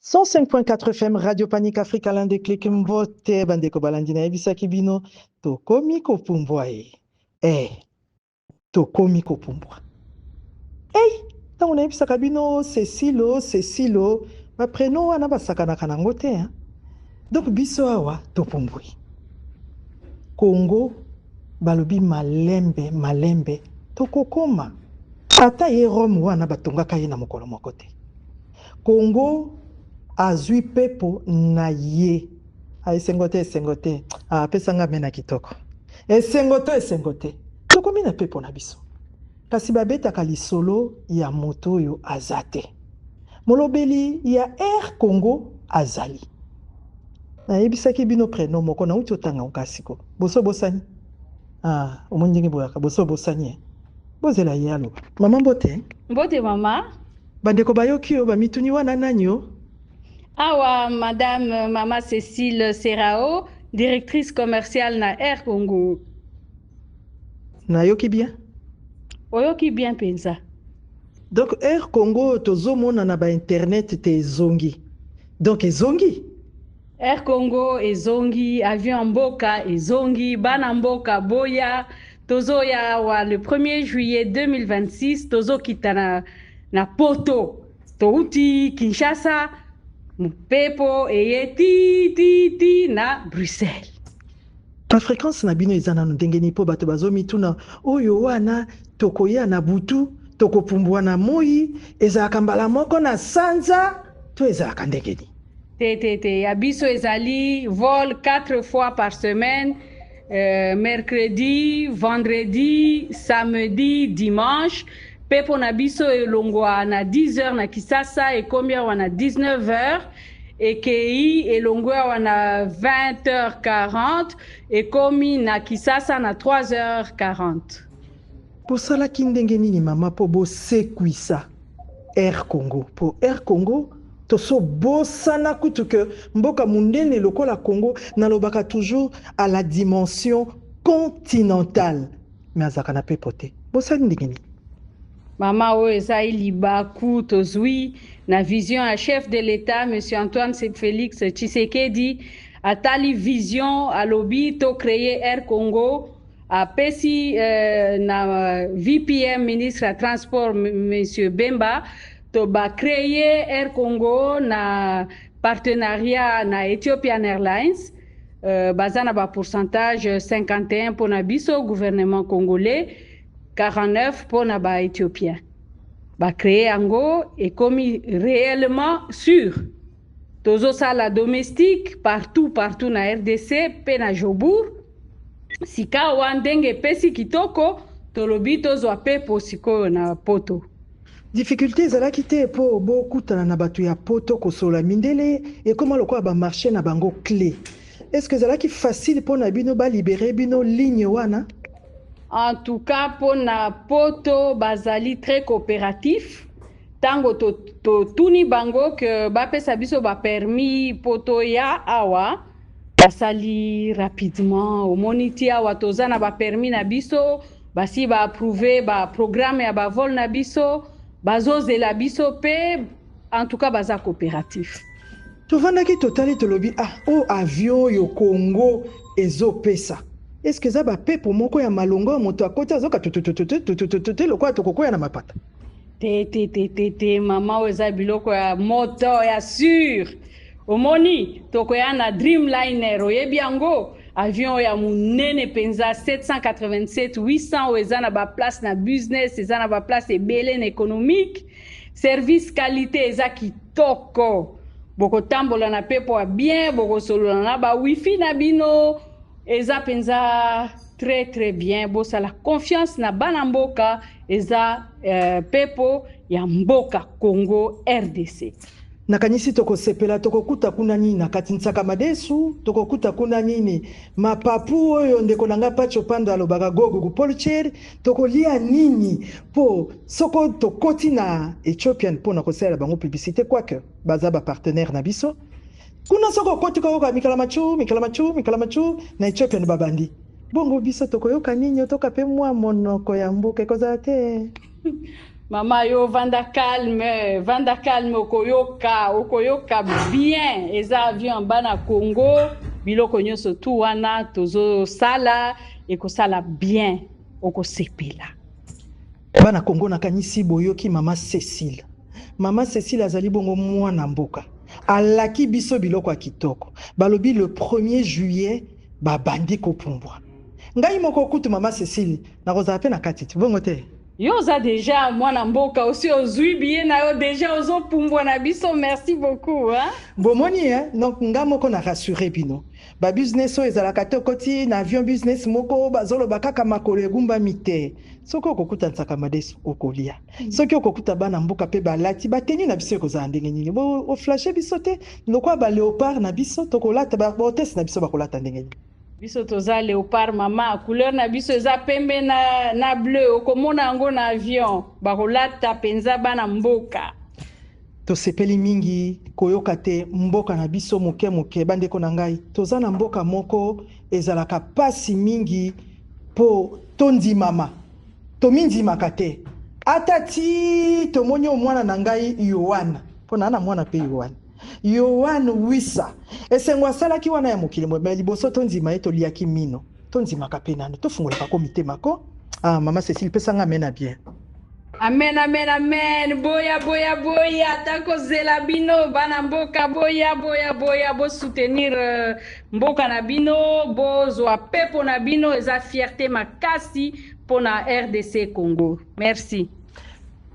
105.4 FM Radio Panic Africa l'un des clics mbote bandeko balandi nayebisaki bino tokomi kopumbwa ye eh tokomi kopumbwa ei ntango nayebisaka bino cecilo cecilo bapreno wana basakanaka nango te hein? donc biso awa topumbwi kongo balobi malembe malembe tokokoma ata ye rome wana batongaka ye na mokolo moko te Congo azui pepo na ye. Ah, esengo te, esengo te. Ah, pesa nga mena kitoko. Esengo to esengo te. Tokomi na pepo na biso. Kasi babetaka lisolo ya moto oyo aza te. Molobeli ya Air Congo azali. Nayebisaki bino preno moko nauti otanga oka siko. Boso bosani? Ah, omoni ndenge boyaka boso bosani. Eh? Bozela ye aloba. Mama mbote. Mbote mama. Bandeko bayoki yo bamituni wana nani o? Awa madame mama Cecile Serao, directrice commerciale na Air Congo. Nayoki bien? Oyoki bien mpenza. Donc Air Congo tozomona na ba internet te ezongi. Donc ezongi? Air Congo ezongi, avion ya mboka ezongi, bana mboka boya, tozoya awa le 1er juillet 2026 tozokita na, na poto touti Kinshasa, mopepo eye ti ti ti na Bruxelles. Ba frequences na bino eza nanu ndenge nini? Po bato bazo mituna oyo wana tokoya na butu, tokopumbua na moyi, ezalaka mbala moko na sanza to ezalaka ndenge nini? Te te te, ya biso ezali vol 4 fois par semaine, euh, mercredi, vendredi, samedi, dimanche. Pe pona biso elongwa na 10 heures na Kisasa ekomi awa na 19 heures ekei elongwe awa na 20h40 ekomi na kisasa na 3h40 bosalaki ndenge nini mama mpo bosekwisa Air Congo po Air Congo toso bosana kutu que mboka munene lokola Congo nalobaka toujours à la dimension continentale mais azalaka na pepo te bosani ndenge nini Mama oyo eza ye libaku tozwi na vision ya chef de l'etat monsieur Antoine Felix Tshisekedi atali vision alobi to créer Air Congo apesi euh, na VPM ministre ya transport monsieur Bemba to ba créer Air Congo na partenariat na Ethiopian Airlines euh, baza na ba pourcentage 51 mpo na biso gouvernement congolais 49 mpo na ba Ethiopiens ba créer yango ekomi réellement sûr Tozo sala domestique partout partout na rdc pe na Jobourg. Sikawa ndenge epesi kitoko tolobi tozwa pepo sikoyo na poto. Difficulte ezalaki te po bo kutana na batu ya poto kosolola mindele ekoma lokola ba marche na bango cle est ce que ezalaki facile pona bino ba libere bino ligne wana? En tout cas pona poto bazali tres cooperatif Tango to, to tuni bango que bapesa biso ba permis po toya awa basali rapidement omoni ti awa toza na ba permis na biso basi ba approuve ba programme ya ba vol na biso bazozela biso pe en tout cas baza coopératif tovandaki totali tolobi ah o oh, avion oyo congo ezopesa eske eza bapepo moko ya malonga oyo moto akoti azoka tutututututututu lokola tokokwea na mapata te te te te te mama oyo eza biloko ya moto ya sur omoni tokoya na dreamliner oyebi yango avion ya monene mpenza 787 800 oyo eza na baplace na business eza na baplace ebele na économique service qualité eza kitoko bokotambola na mpepo ya bien bokosolola na ba wifi na bino eza mpenza Très très bien bosala confiance na bana mboka eza euh, pepo ya mboka Congo RDC. nakanisi tokosepela tokokuta kuna nini na kati nsaka madesu tokokuta kuna nini mapapu oyo ndeko na ngai pacho pando alobaka gogo kupolcher tokolia nini mpo soko tokoti na ethiopian mpo na kosalela bango publicité quoique baza bapartenaire na biso Kuna soki okoti koyoka mikalamachu mikalamachu mikalamachu na Ethiopian babandi. Bongo biso tokoyoka nini otoka pe mua monoko ya mboka ekozala te. Mama yo vanda calme, vanda calme okoyoka, okoyoka bien. Eza avion en bas na Congo, biloko nyonso tout wana tozo sala ekosala bien. Okosepela. Bana Congo nakanisi boyoki mama Cecile. Mama Cecile azali bongo mwana mboka. Alaki biso biloko ya kitoko. Balobi le premier juillet babandi kopumbwa. Ngai moko kutu mama Cecile nakozala pe na kati te, bongo te? Yo oza dejà mwana mboka osi ozui billet na yo dejà ozo pumbwa na biso merci beaucoup hein. Bomoni hein donc nga moko na rassurer bino. Ba business oyo ezalaka te okoti na avion business moko bazoloba kaka makolo egumbami te soki okokuta nsaka madesu okolia mm. soki okokuta bana mboka mpe balati bateni na biso ekozala ndenge nini oflashe biso te lokola ba leopard na biso tokolata bahotese na biso bakolata ndenge nini biso toza leopard mama couleur na biso eza pembe na, na bleu okomona yango na avion bakolata mpenza bana mboka Tosepeli mingi koyoka te mboka na biso moke moke. Bandeko na ngai, toza na mboka moko ezalaka pasi mingi po tondimama. Tomindimaka te. Ata ti tomoni o mwana na ngai Yoane, po na na mwana pe Yoane. Yoane Wissa. Esengo asalaki wana ya mokili moye, mais liboso tondima ye, toliaki mino. Tondimaka pe nanu, tofungolaka ko mitema ko. Ah mama Cecile pesa nga amen ya bien. Amen, amen, amen. Boya, boya, boya. Tako zela bino, bana mboka. Boya, boya, boya. Bo soutenir euh, mboka na bino. Bo zwa pepo na bino. Eza fierté makasi pona RDC Congo. Merci.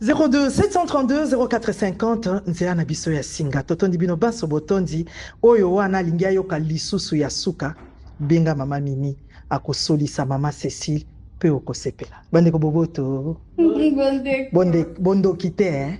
02 732 0450 nzela na biso ya singa totondi bino banso botondi oyo wana alingi ayoka lisusu ya suka benga mama mimi akosolisa mama cecile mpe okosepela bandeko boboto bondoki te eh?